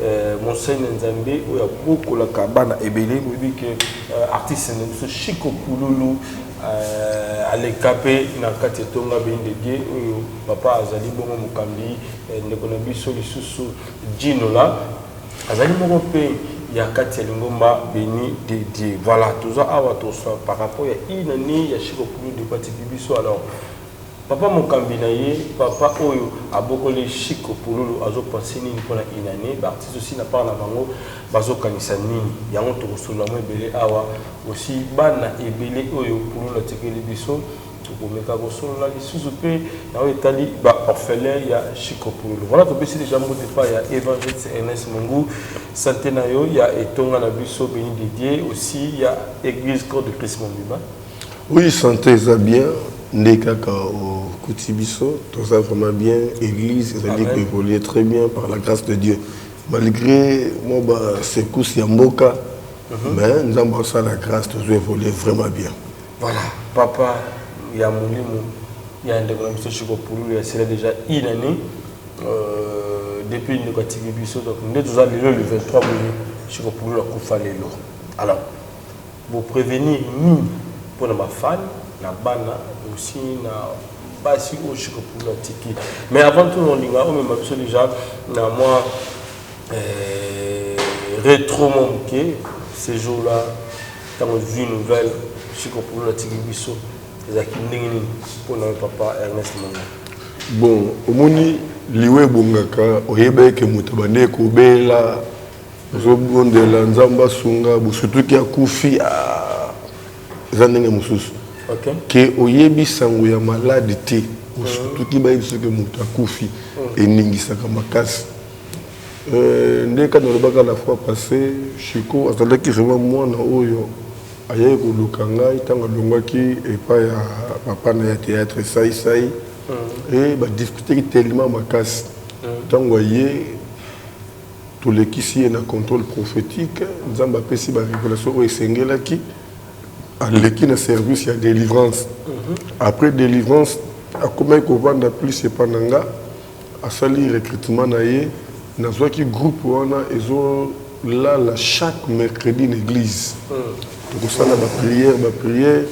Euh, monseigne nzambe oyo abokolaka bana ebele boyebi ke euh, artiste na biso chiko pululu euh, aleka mpe na kati etonga bendege oyo papa azali bongo mokambi ndeko na biso lisusu jinola azali moko mpe ya kati ya lingomba beni de dieu voilà toza awa tosa par rapport ya inani ya chiko pululu depatibi biso alors Papa mokambi na ye papa oyo abokoli chic pululu azo penser nini pona une annee ba artistes aussi na part na bango bazo kanisa nini yango toko solola mwa ebele awa aussi bana ebele oyo pululu atikeli biso toko meka ko solola lisusu pe na oyo etali ba orphelins ya chic pululu voila to pesi dejà mbote epayi ya evangeliste Ernest Mungu sante na yo ya etonga na biso Beni de Dieu aussi ya eglise Corps de Christ mobimba. Oui sante eza bien nde kaka okuti biso toza vraiment bien église ezali ko évoluer très bien par la grâce de Dieu malgré mwa ba secousse ya mboka mhm. mais nzambe asala grâce tozo évoluer vraiment bien voilà papa ya molimo ya ndeko na biso chiko pululu ya sila déjà une année euh, depuis ndeko atiki biso donc nde toza lelo le 23 boye chiko pululu akufa lelo alors Bo prevenir nini pona ba fan na bana aussi na basi oyo chic pulu atiki mais avant tout olinga omema biso dejà na mwa retro mwa muke ce jour là tango ozui nouvelle chic pulu atiki biso ezalaki ndenge nini pona yo papa Ernest Monga? Bon omoni liwa ebongaka oyebaki que moto abandaki kobela. ozobondela nzambe asunga bosutuki akufi ah, eza ndenge mosusu okay. ke oyebi sango ya maladi te bosutuki bayebi soki moto akufi mm. eningisaka makasi euh, nde kani olobaka la fois passé chiko azalaki vraiment mwana oyo ayaki koluka ngai ntango alongwaki epai ya papa na ya théâtre saisai mm. e badiscuteki tellement makasi mm. ntango aye Tolekisi ye na controle prophetique, Nzambe apesi ba revelations oyo esengelaki, aleki na service ya delivrance, après delivrance akomaki kovanda plus epa na nga, asali recrutement na ye, nazwaki groupe wana ezo lala chaque mercredi na eglise. tokosala ba prière ba prière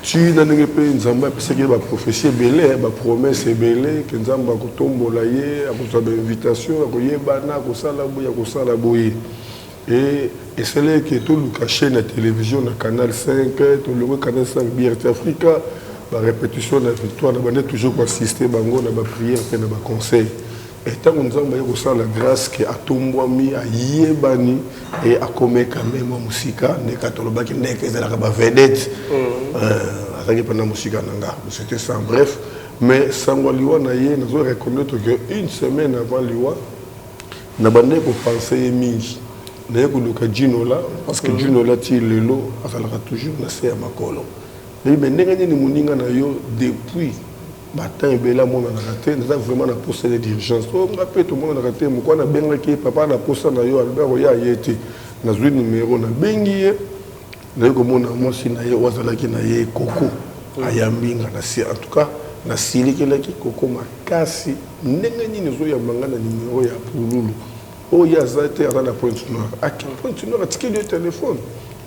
ti na ndenge mpe nzambe apesaki ye baprofesi ebele bapromese ebele ke nzambe akotombola ye akozwa bainvitation ya koyebana akosala boye akosala boye e esalaki ke toluka chaîne ya télévision na canal 5 tolongwe canal 5 brt africa barépétition na victoire na bande toujours koassiste bango na baprière mpe na baconseil Et tango Nzambe aye kosala grace que atombwami, ayebani et akomee quand meme mwa mosika, nde kaka tolobaki nde que ezalaka ba vedettes. Euh, azalaki mpenza mosika na nga. C'était ça, en bref. Mais sango ya liwa na ye, nazo reconnaître que une semaine avant liwa, na bandaki ko penser ye mingi. Naye koluka Djinola, parce que Djinola ti lelo azalaka toujours na se ya makolo. Nayebi mais ndenge nini moninga na yo depuis Martin ebele amonanaka te naza vraiment na posa ye d'urgence oyo oh, nga mpe tomonanaka te mokwa nabengaki ye papa na posa na yo alobi akoya aye te nazwi numero nabengi ye naye komona mwasi na ye oyo azalaki na ye koko ayambi nga nasi en tout cas nasilikelaki koko makasi ndenge nini ezoyamba nga na numero ya pululu oyo ye aza te aza na pointe noire ake pointe noire atikeli yo telefone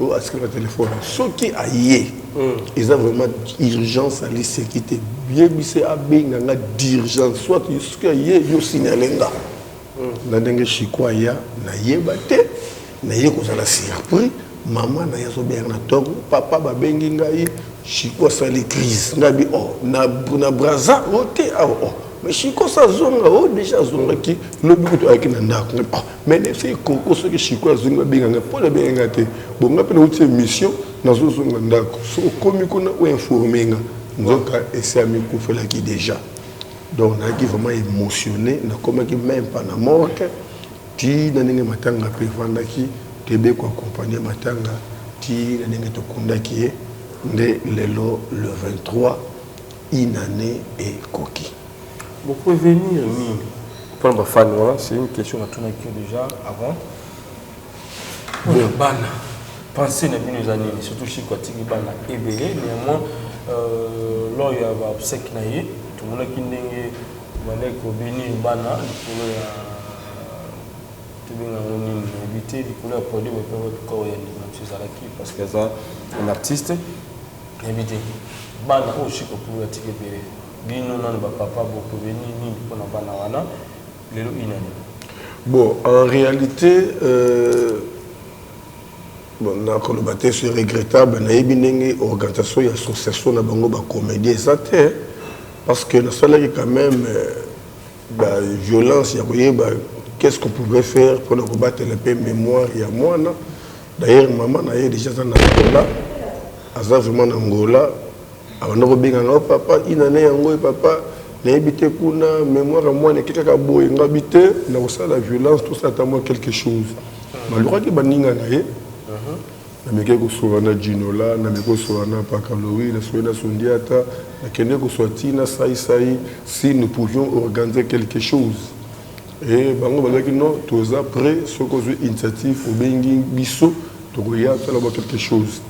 oyo atikeli na telefone soki aye hmm. eza vraiment urgence aliseki te yebise abenga nga d'urgence soit soki aye yo signale nga hmm. na ndenge chiko aya nayeba te naye kozala surpris Maman naye azo bela na tord ou papa ba bengi ngai chico asali crise ngai bi oh na na braza oh te awa oh mais chico sa zonga oh dejà azongaki lobi kutu ayaki na ndako ngai oh mais na yebisaki koko soki chico azongi ba benga ngai po na benga ngai te bon ngai pe na wuti émission nazo zonga ndako so okomi kuna o informer nga nzoka esi amikufelaki dejà donc nayaki vraiment émotionné nakomaki meme pa na morgue Tii na ndenge matanga mpe efandaki, toyebi ye ko accompagner matanga tii na ndenge tokundaki ye, nde lelo le 23 une annee ekoki. Bo prevenir nini pona ba fans wana? C'est une question natunaki yo dejà avant. Pona bana pensee na bino eza nini? Surtout Chico atiki bana ebele, neanmoins lors ya ba obseques na ye tomonaki ndenge Maneko bini bana likolo ya tobenga ngo nini nayebi te likolo ya podium epai wapi corps ya ndeko na biso ezalaki parce que aza un artiste nayebi te bana oyo siko pulu atiki ebele bino nano bapapa bokobeni nini mpo na bana wana lelo inani bon en réalité euh, bon nakoloba te c'est regrettable nayebi ndenge organisation ya association na bango bacomédien eza te Parce que nasalaki quand même euh, ba violence ya koyeba qu'est-ce qu'on pouvait faire mpona kobatela mpe mémoire ya mwana d'ailleurs mama na ye déjà aza na angola aza vraiment na angola abanda kobenga nga oh, papa inane yango e papa nayebi te kuna mémoire ya mwana eke kaka boye ngabi te nakosala violence tosala ata mwa quelque chose balukaki baninga na ye Namekaki kosolola na Djinola, nameki kosolola na Pakalowi, nasololi na Sundiata, nakendeki kosolola tii na Sai Sai si nous pouvions organiser quelque chose et bango balobaki non, toza pret soki ozwi initiative obengi biso tokoya tosala ba quelque chose.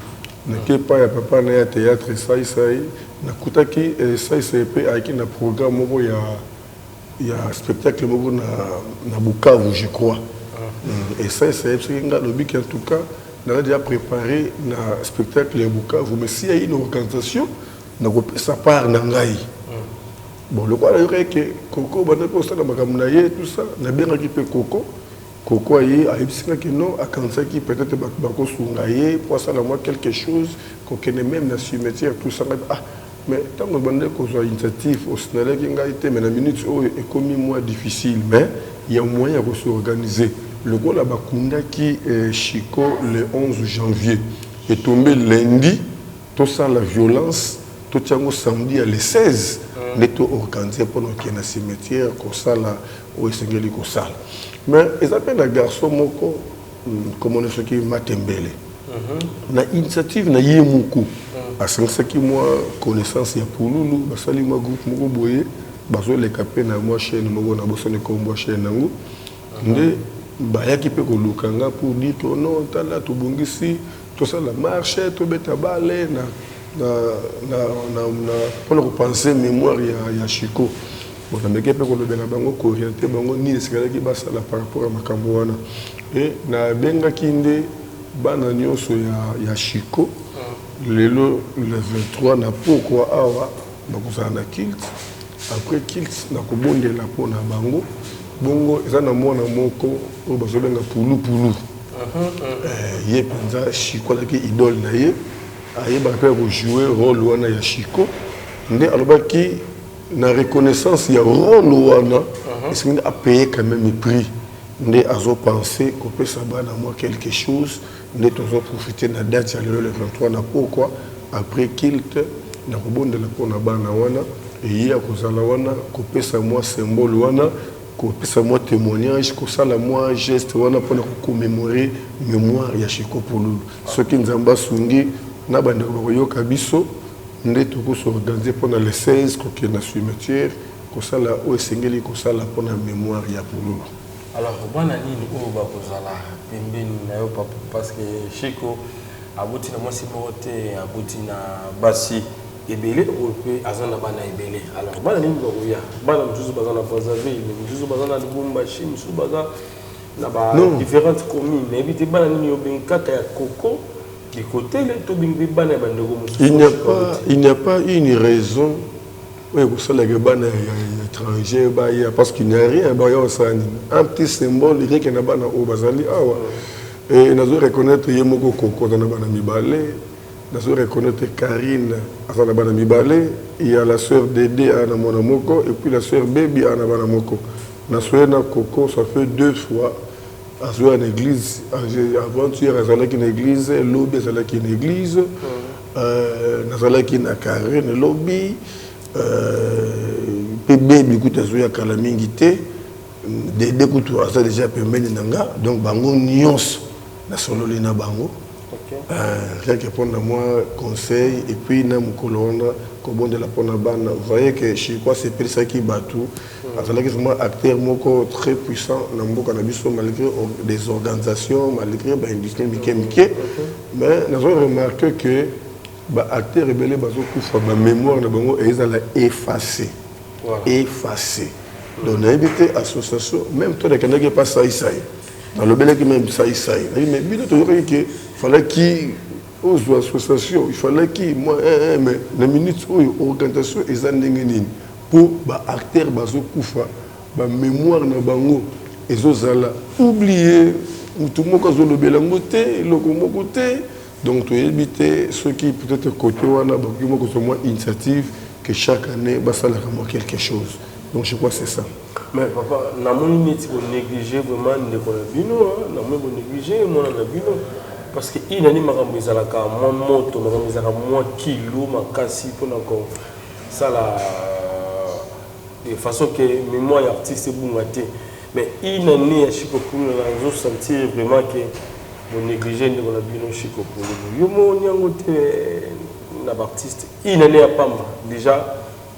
Nakei epai ya papa na ya theatre Sai Sai, nakutaki Sai Sai mpe ayaki na programme moko ya. ya spectacle moko na, na Bukavu je crois mm. et ça esayebisaki nga lobi ke en tout cas naza deja préparé na spectacle ya Bukavu mais si ya une organisation nakopesa part na ngai bon lokola nayokaki ke koko bandaki kosala makambo na ye tout ça nabengaki mpe koko Koko aye ayebisi nga ke non akanisaki peut etre batu bako sunga ye po asala mua quelque chose ko kende meme na cimetière tout ça nga pe ah mais tangu ebandaki kozua initiative o signalaki ngai te mais na minute oyo ekomi mua difficile mais ya moyen ya ko se organiser lokola ba kundaki Chico le 11 janvier e tombe lundi Tosala violence totia yango samedi ya le 16 nde to organiser mpona kokende na cimetière kosala oyo esengeli kosala mais eza mpe na garçon moko nkombo na soki matembele mhm. na initiative na ye moko mhm. asangisaki mwa connaissance ya pululu basali mwa groupe moko boye bazoleka mpe na mwa chaîne moko na bosani nkombo ya chaîne yango mhm. nde bayaki mpe koluka nga pour dire que non tala tobongisi Tosala marche, tobeta bale na na na na na pona ko penser mémoire ya ya Chico. Bon, na meke pe ko lobela bango ko orienter bango nini esekalaki basala par rapport ya makambo wana. Et na bengaki nde bana nionso ya ya Chico lelo le 23 na pokwa awa. Bakozala na culte après culte na kobondela mpo na bango bongo eza na mwana moko oyo bazobenga pulupulu eh, ye mpenza shiko azalaki idole na ye ayebaka mpe ya kojoue role wana ya shiko nde alobaki na reconnaissance ya role wana uh-huh. esengi nde apaye quand même prix nde azopense kopesa bana mwa quelque chose Nde tozo profiter na date ya lelo le 23 na pokwa après culte na kobondela mpo na bana wana eye ya kozala wana kopesa mwa symbole wana kopesa mwa temoignage kosala mwa geste wana mpo na ko commemorer memoire ya Chico Pululu soki Nzambe asungi na bandeko bakoyoka biso nde toko se organiser mpo na le 16 kokende na cimetière kosala oyo esengeli kosala mpo na memoire ya Pululu. Alors bana nini oyo bakozala pembeni nayo papa parce que Chico aboti na mwasi moko te aboti na basi ebele oyo pe aza na bana ebele alors bana nini bakoya bana mosusu baza na Brazzaville mosusu baza na Lubumbashi mosusu baza na ba non. différentes communes nayebi te bana nini obengi kaka ya koko bikotele to obengi pe bana ya bandeko mosusu il n'y a pas une raison Oyo ekosala que bana ya etranger baya parce qu'il n'y a rien baya kosala nini? Un petit symbole rien que na bana oyo bazali awa et nazo reconnaitre ye moko koko aza na bana mibale nazo reconnaitre Carine aza na bana mibale il ya la sœur Dede aya na mwana moko et puis la sœur Baby aya na bana moko nasoye na koko ça fait deux fois azoya na eglise avant hier azalaki na eglise lobi azalaki na eglise Euh, nazalaki na Karen lobi euh, pe bebi kutu azoya kala mingi te dede kutu aza deja pembeni na nga donc bango nyonso nasololi na bango quelque mpo na mwa conseil epuis na mokolo wana kobondela mpo na bana voye ke chirkoi asepelisaki bato Azalaki vraiment acteur moko très puissant na mboka na biso malgré des organisations, malgré ba industries mike mike. Mais nazo remarquer que ba acteurs ebele bazo kufa ba mémoire na bango ezala effacer. Voilà. Effacer. Donc nayebi te association même toi nakendaki epa sai sai. Nalobelaki même sai sai. Nayebi mais bino toyokaki que falaki ozwa association, il fallait ki moi eh, eh, mais na minute oyo organisation eza ndenge nini? Po ba acteurs bazo kufa ba memoire na bango ezo zala oublie mutu moko azo lobela yango te eloko moko te donc to yebi te soki peut etre cote wana bakoki mwa kozwa mwa initiative que chaque annee ba salaka mwa quelque chose donc je crois c'est ça. Mais papa na moni neti bo negliger vraiment ndeko na bino hein na moni bo negliger mwana na bino parce que une annee makambo ezalaka mwa moto makambo ezalaka mwa kilo makasi pona ko sala de façon que mémoire ya artiste ebunga te mais une année ya Chico Pulula nazo sentir vraiment que bo négliger ndeko na bino Chico Pulula yo moni yango te na ba artiste une année ya pamba déjà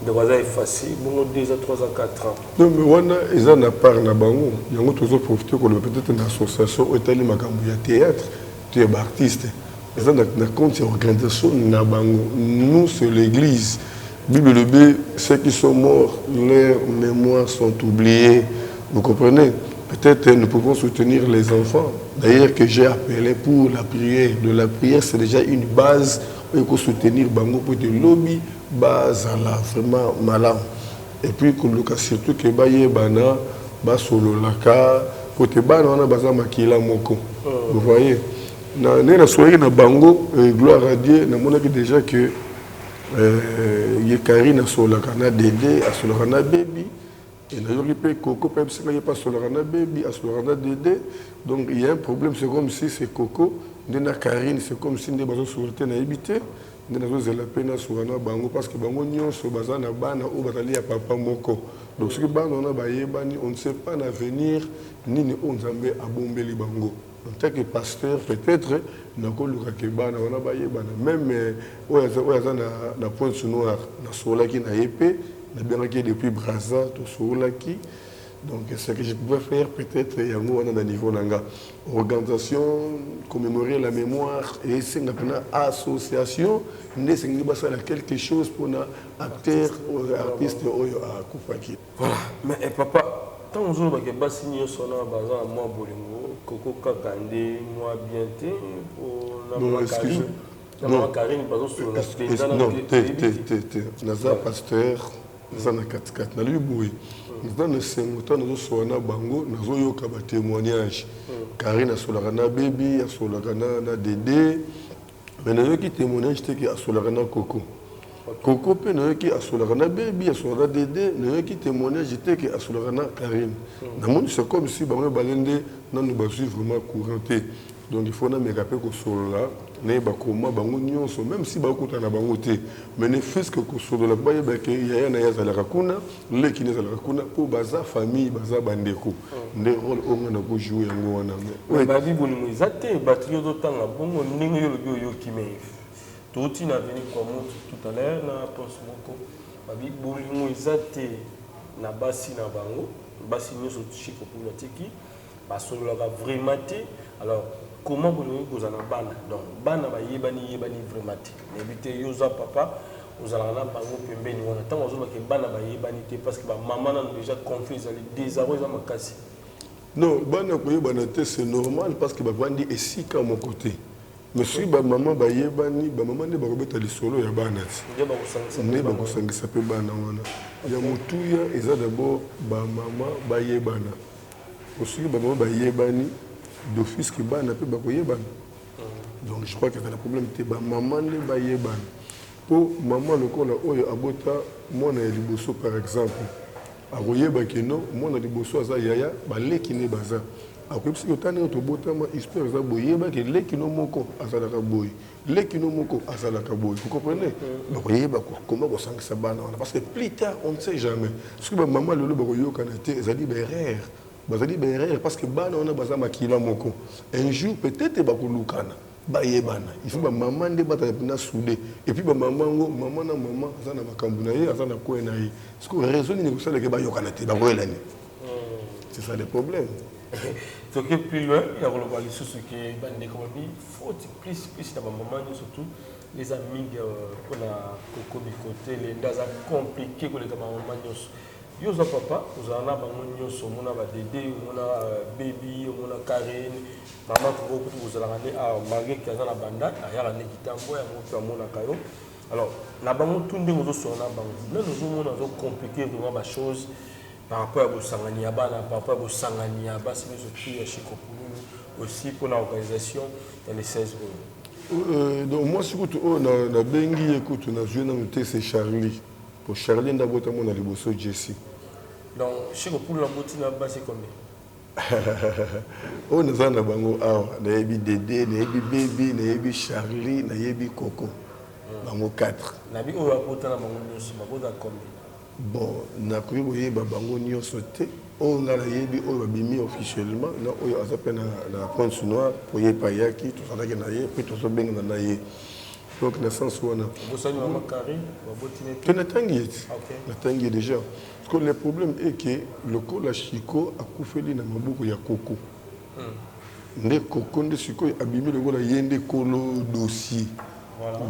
ndeko aza efasi bongo 2 a 3 a 4 ans non mais wana eza na part na bango yango tozo profiter koloba peut-être na association oyo etali makambo ya théâtre To ya ba artistes eza na na compte ya organisation na bango nous c'est l'eglise bible elobi ceux qui sont morts leur memoire sont oublier vous comprenez peut-être nous pouvons soutenir les enfants d'ailleurs que j'ai appelé pour la prière de la prière c'est déjà une base oyo ekosoutenir bango mpo ete lobi bazala vraiment malamu Et puis koluka surtout que bayebana, basololaka, po te bana wana baza makila moko, vous voyez. Na ndenge nasololaki na bango, gloire à Dieu, namonaki dejà que ye Carine asololaka na Dede, asololaka na Baby, et nayoki pe Coco pe ayebisaki nga ye pe asololaka na Baby, asololaka na Dede, donc il ya un problème, c'est comme si c'est Coco nde na Carine, c'est comme si nde bazosolola te, nayebi te. nde nazo zela pe na suka na bango parce que bango nionso baza na bana oyo bazali ya papa moko donc soki bana wana bayebani on ne sait pas na avenir nini oyo nzambe abombeli bango en tant que pasteur peut-être nakoluka ke bana wana bayebana meme euh, oyo aza na, na pointe noire nasololaki na ye mpe nabengaki ye depuis braza tosololaki donc ce que je pouvais faire peut-être yango wana na niveau na nga Organisations commemorer la memoire esenga pena association nde esengeli basala quelque chose pona acteur oyo artiste oyo akufaki. Voilà mais eh papa tango ozoloba ke basi nioso wana baza na mua bolingo koko kaka nde mua bien te po na mama carine na mama carine bazosolola penza nanu te toyebi te. Naza pasteur. Naza na kati kati nalobi boye naza na esengo ntango nazosolola na bango nazoyoka ba temoignage Carine asolaka na Baby asolaka na na Dede mais nayoki temoignage te ke asolaka na Coco Coco mpe nayoki asolaka na Baby asolaka na Dede nayoki temoignage te ke asolaka na Carine namoni c'est comme si bango mibale nde nanu bazwi vraiment courant te Donc il faut na meka pe ko solola na ye ba koma bango nionso meme si ba kota na bango te mais ne fut ce que ko solola po ba yeba ke yaya na ye azalaka kuna leki na ezalaka kuna po baza famille baza ba ndeko nde role oyo nga na ko jouer yango wana mais ba bi bolingo eza te batu nionso ozo tanga bongo ndenge yo olobi oyoki mais to ti na veni kwa mutu tout à l'heure na poste moko ba bi bolingo eza te na basi na bango basi nionso chico pula tiki Basololaka vraiment te alors comment bolingi kozala na bana donc bana bayebani yebani vraiment te nayebi te yo oza papa ozalaka na bango pembeni wana tango bazoloba ke bana bayebani te parce que ba maman nanu dejà conflit ezali desarroi eza makasi Non, bana koyebana te c'est normal parce que bavandi esika moko te. Mais soki ba maman bayebani, ba maman nde bakobeta lisolo ya bana ti. nde bakosangisa mpe Nde bango. bakosangisa mpe bana wana. Ya motuya eza d'abord ba maman bayebana. Bon soki ba mama ba yebani d'office que bana pe bako yebana donc je crois que ezala problème te ba mama nde ba yebana po mama lokola oyo abota mwana ya liboso par exemple ako yeba que non mwana liboso aza yaya ba leki nde baza ako yebisa que tala ndenge to botama histoire eza boye yeba que leki no moko azalaka boye leki no moko azalaka boye vous comprenez bakoyeba koma kosangisa bana wana parce que plus tard on ne sait jamais soki bamama lelo bakoyokana te ezali baerreur bazali baerreur parce que bana wana baza makila moko un jour peut-être bakolukana bayebana il faut bamama nde bazala mpena soude epuis bamama yango mama na mama aza na makambo na ye aza na kwe na ye siko raison nini ekosalaka bayokana te bakoyelani hmm. c'est ça le problème toke plus loin ya koloba lisusu ke bandeko babi faute plus plus na ba maman nioso tout les amis de pona koko bikotele nda aza compliqué koleka ba maman nioso yo oza papa ozala na bango nioso omona ba dede omona euh, baby omona karine mama koko kutu kozalaka nde awa ah, malgré ke aza na banda ayaka nde kitambo yango mpe amonaka yo alors na bango tout ndenge ozosona na bango nani ozomona ozocompliqué vraiment ba choses Par rapport ya bosangani ya bana, par rapport ya bosangani ya basi nionso tout ya chez Kokululu aussi pona organisation ya le 16 oyo. Euh, donc mwasi kutu oyo na, na bengi ye kutu na zui nanu te c'est Charlie. Po Charlie nda bota mona liboso Jessie. Donc chez Kokululu na boti na basi combien? oyo naza na bango awa nayebi dede nayebi bebi nayebi charlie nayebi koko bango 4 nabi oyo abota na bango nyonso babota combien Bon nakoki koyeba bango nioso te oyo nga nayebi oyo babimi officiellement na oyo aza pe na pointe noir po ye pe ayaki tozalaki na ye pe tozobengana na ye donc na sens wana pe natangi ye ti natangi ye dejà parce que le problème est que lokola Chico akufeli na maboko ya koko nde koko nde sikoyo abimi lokola ye nde kolo dossier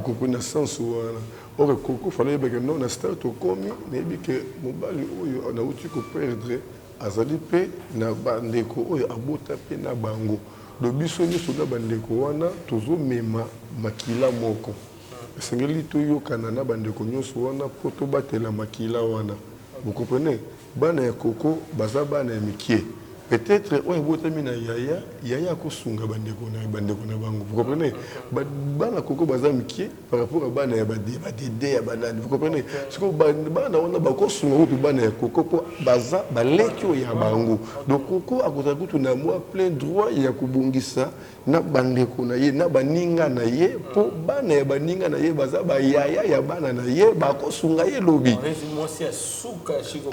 koko na sens wana Ore koko fallait oyeba que non na stade tokomi nayebi que mobali oyo nawuti ko perdre azali pe na ba ndeko oyo abota pe na bango donc biso nioso na ba ndeko wana tozo mema makila moko esengeli toyokana na ba ndeko nioso wana po tobatela makila wana vous comprenez bana ya koko baza bana ya mikie peut etre oyo abotami na yaya yaya akosunga ba ndeko na ba ndeko na bango vous comprenez ba bana koko baza mikie par rapport ya bana ya badede ya banani vous comprenez sikoyo bana wana bakosunga kutu bana ya koko mpo baza baleki oyo ya bango donc koko akozala kutu na mwa plein droit ya kobongisa na bandeko na ye na baninga na ye mpo bana ya baninga na ye baza bayaya ya bana na ye bakosunga ye lobi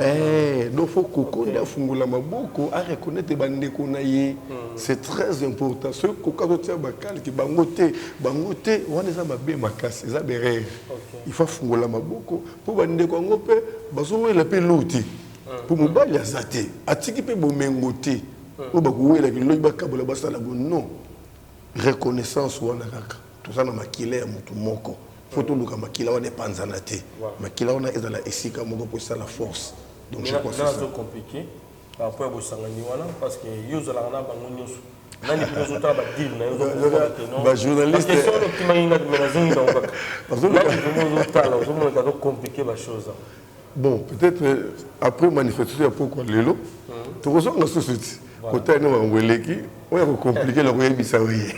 Eh, donc faut kokonde afungola maboko a reconnaître bandeko na ye hmm. c'est très important soki koka kotia bakalki bango te bango te wana eza mabe makasi eza berere il faut afungola maboko mpo bandeko yango mpe bazowela mpe lou te mpo hmm. mobali aza te atiki mpe bomengo te hmm. oyo bakowelaki loki bakabola basala bo non reconnaissance wana kaka Toza na makila ya mutu moko faut toluka makila wana epanzana te makila wana ezala esika moko po esala force donc je crois c'est ça. par rapport ya bosangani wana parce que yo ozalaka na bango nyonso nani mpe ozotala badeal na yobajournalistquestion okimaki ngati me nazongi nango kaka nani vraimen ozotala ozomonaka azo compliqué bachose Bon, peut-être euh, après manifestation ya pokwa lelo tokozonga susu ti kotala nde makambo eleki oyo akokomplike na koyebisa yo ye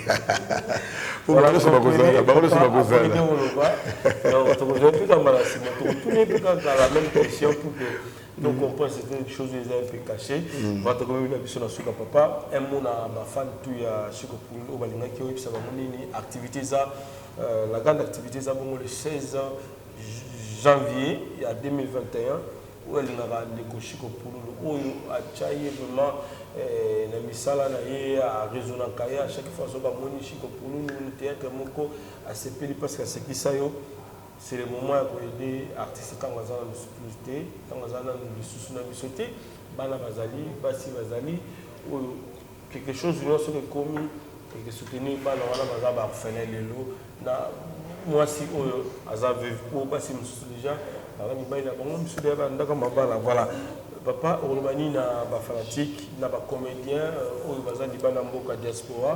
po bango nyonso bakozala bango nyonso bakozala donc on pense que quelque chose eza un peu caché bato komi na biso na suka papa un mot na bafan tout ya suka pul oyo balingaki oyebisa bango nini activité eza euh, la grande activité eza bongo le 16 janvier ya 2021 oyo alingaka ndeko chico pululu oyo atia ye vraiment na misala na ye a raisonnaka ye a chaque fois soki amoni chico pululu na theatre moko asepeli parce que asekisa yo c'est le moment ya koyede artiste ntango aza nanu plus te ntango aza nanu lisusu na biso te bana bazali basi bazali oyo Quelque chose nionso soki ekomi eke soutenir bana wana baza ba orphelins lelo na muasi oyo aza veuve po basi mususu dejà baza mibali na bango misusu dejà ba ndako mabala voilà papa okoloba nini na ba fanatique na ba comediens euh, oyo baza libanda mboka diaspora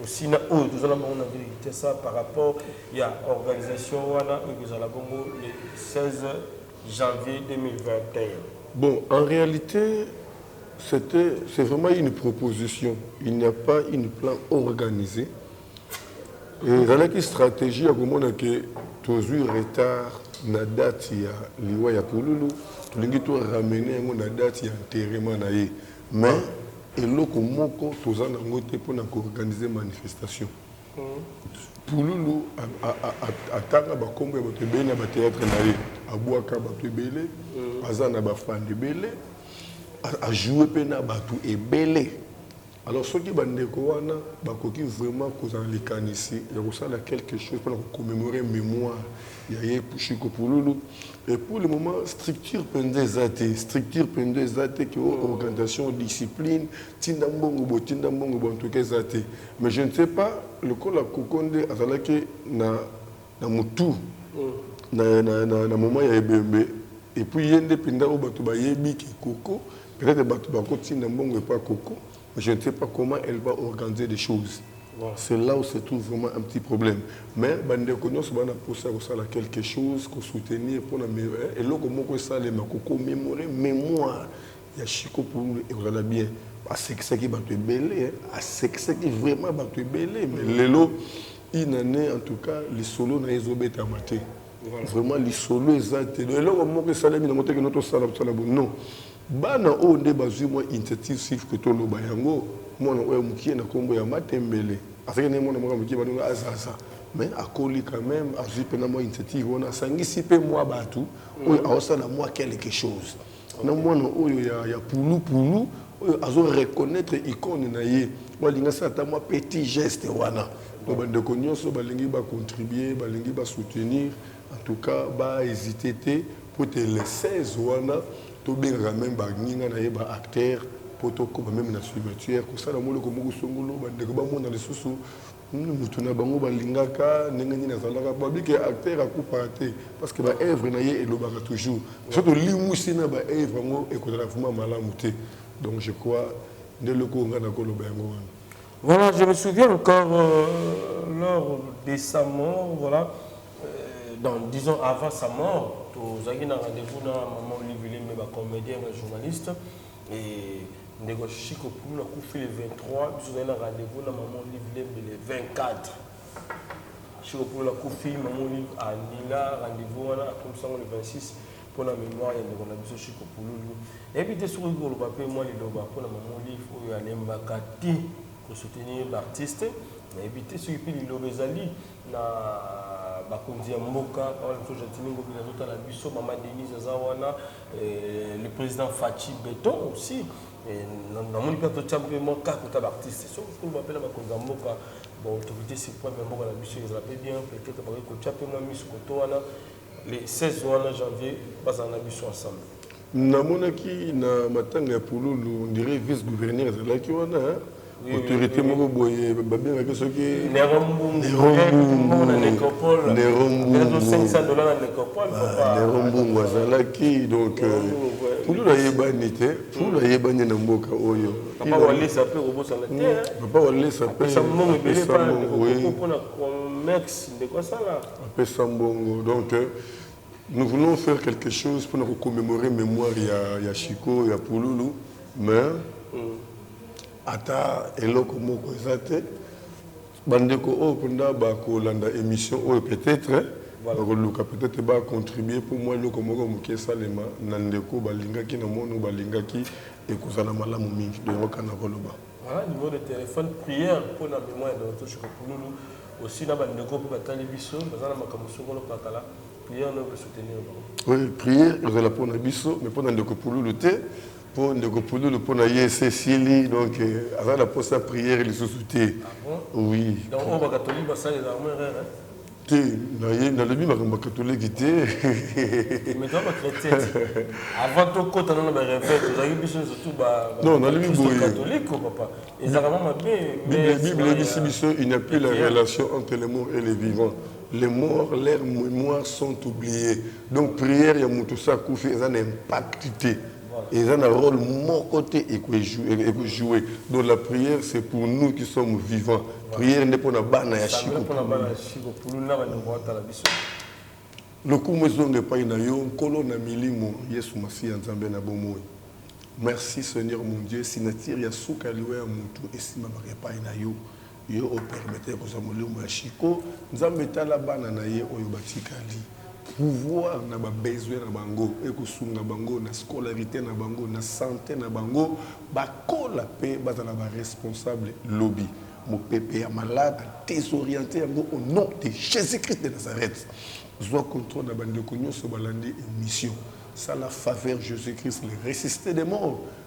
aussi na oyo toza na bango na ville Kinshasa par rapport ya organisation wana oyo kozala bongo le 16 janvier 2021 bon en réalité C'est un, c'est vraiment une proposition. Il n'y a pas une plan organisé. Et ezalaki stratégie ya komona ke tozwi retard na date ya liwa ya pululu tolingi to ramener yango na date ya enterrement na ye mais eloko moko toza nango te mpo na koorganize manifestation Pululu atanga ba kombo ya batu ebele na ba theatre na ye, abuaka batu ebele, aza na ba fans ebele, a joue pe na batu ebele. Alors soki ba ndeko wana bakoki vraiment kozala na likanisi ya kosala quelque chose pona ko commemorer memoire ya ye Shiko Pululu, et pour le moment structure penza eza te, structure penza eza te que organisation, discipline, tinda mbongo boye, tinda mbongo boye en tout cas eza te. Mais je ne sais pas lokola koko nde azalaki na na mutu na na na, na moment ya ebembe et puis ye nde pinda oyo batu bayebi ki koko peut-être batu bakotinda mbongo epa koko mais je ne sais pas comment elle va organiser les choses Voilà. C'est là où se trouve vraiment un petit problème. Mais bandeko nyonso bana posa ya kosala quelque chose, ko soutenir mpona me- eh, eloko moko esalema, ko commemorer mémoire Ya chico pululu ekozala bien asekisaki batu ebele hein asekisaki vraiment batu ebele mais lelo une annee en tout cas lisolo naye ezo betama te vraiment lisolo eza te donc eloko moko esalemi nango te kino tosala tosala boye non bana oyo nde bazui mwa initiative sur que toloba yango mwana oyo mukie na kombo ya matembele azalaki naye mwana moko ya mukie babenga azaza mais akoli quand meme azui pena mwa initiative wana asangisi pe mwa batu oyo aosala mwa quelque chose na mwana oyo ya, ya pulu pulu oyo azo reconnaître icone na ye oyo alingi asala ata mwa petit geste wana donc bandeko nyonso balingi bacontribue balingi basoutenir en tout cas bahésite te mpo te le 16 wana tobengaka meme baninga na ye baacteur mpo tokoma meme na cimetière kosala mwa eloko moko songolo bandeko bamona lisusu Hum mutu na bango ba lingaka ndenge nini azalaka ba bi ke acteur akupaka te parce que ba œuvre na ye elobaka toujours soki to limwisi na ba œuvre yango ekozala vraiment malamu te donc je crois nde eloko oyo ngai nako loba yango wana Voilà, je me souviens encore euh, lors de sa mort, voilà, euh, dans, disons avant sa mort, tozalaki na rendez-vous na maman Olive Lembe, ba comédien, ba journaliste. Eeh ndeko chico poul akufi le 23 biso tozali na rendez vous na maman olive lembe le 24 chico poul akufi maman olive alila rendez vous wana akomisa yango le 26 pona memoire ya ndeko na biso chico pululu nayebi te soki koloba pe mwa liloba pona maman olive oyo alembaka te ko soutenir ba artiste nayebi te soki pe liloba ezali na bakonzi ya mboka awa na biso gentini ngobila azotala biso maman denise aza wana Euh, le président Fatshi Beton aussi. namoni mpe totya mpe mwa kaka kaka baartiste soki kolo bapela bakonzi ya mboka baautorité supreme ya mboka na biso ezala mpe bien peut-être bakoki kotya mpe mwa miso koto wana le 16 wana janvier bazala na biso ensemble namonaki na matanga ya pululu ndire vice gouverneur ezalaki wana autorité moko boye babengaki soki nerombungu azalaki donc pulu nayebani te pulu nayebani na mboka oyo papa walesa mpe apesa mbongo donc Nous voulons faire quelque chose pona ko commemorer memoire ya ya Chico ya Pululu mais mm. ata eloko moko eza te bandeko oyo mpenza bakolanda émission oyo peut-être bakoluka peut-être bacontribue mpo mwa eloko moko moke esalema na ndeko balingaki na mono balingaki ekozala malamu mingi donc kaka na koloba Haa numero de telephone prière pona memoire ya Docteur Tshoko Pululu aussi na ba ndeko pe batali biso baza na makambo songolo mpakala prière nayo ko soutenir bango. Oui prière ezala pona biso mais pona ndeko Pululu te po ndeko Pululu pona ye esi esili donc aza na posa ya prière lisusu te. Ah bon? Oui. Donc oyo ba catholique basalelaka yango erreur hein? Te naye nalobi makambo ya katoliki te. Mais toza ba chretien ti. Avant tokota nanu na ba reveil tozalaki biso nionso tout ba Non, nalobi bakristo boye. katoliko papa. Ezalaka mwa mabe Bible, mais Bible sima eyebisi ya biso, il n'y a plus la ekeyaki. relation entre les morts et les vivants. Les morts, leurs mémoires sont oubliées. Donc prière ya moto osi akufi eza na impact te. Eza na role moko te eko eko jouer donc la prière c'est pour nous qui sommes vivants prière nde pona bana ya shiko pona bana ya shiko pululu na banyoko batala biso lokumu ezonga epai na yo nkolo na milimo yesu masiya nzambe na bomoi merci seigneur mon dieu signature ya suka ya liwa ya motu esimbamaka epai na yo Yo o permettre kozwa molimo ya Chico, Nzambe tala bana na ye oyo batikali. Pouvoir na ba besoins na bango eko sunga bango na scolarite na bango, na sante na bango, ba kola pe bazala ba responsables lobi. Mopepe ya malade a desorienter yango au nom de Jesus Christ de Nazareth. Zwa controle na ba ndeko nionso balandi emission. Sala faveur Jesus Christ le resisite des morts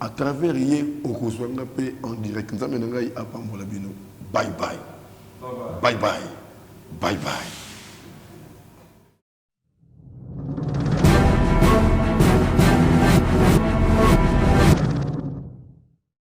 A travers ye okozua nga pe en direct nzambe na ngai apambola bino bye bye bye bye bye bye.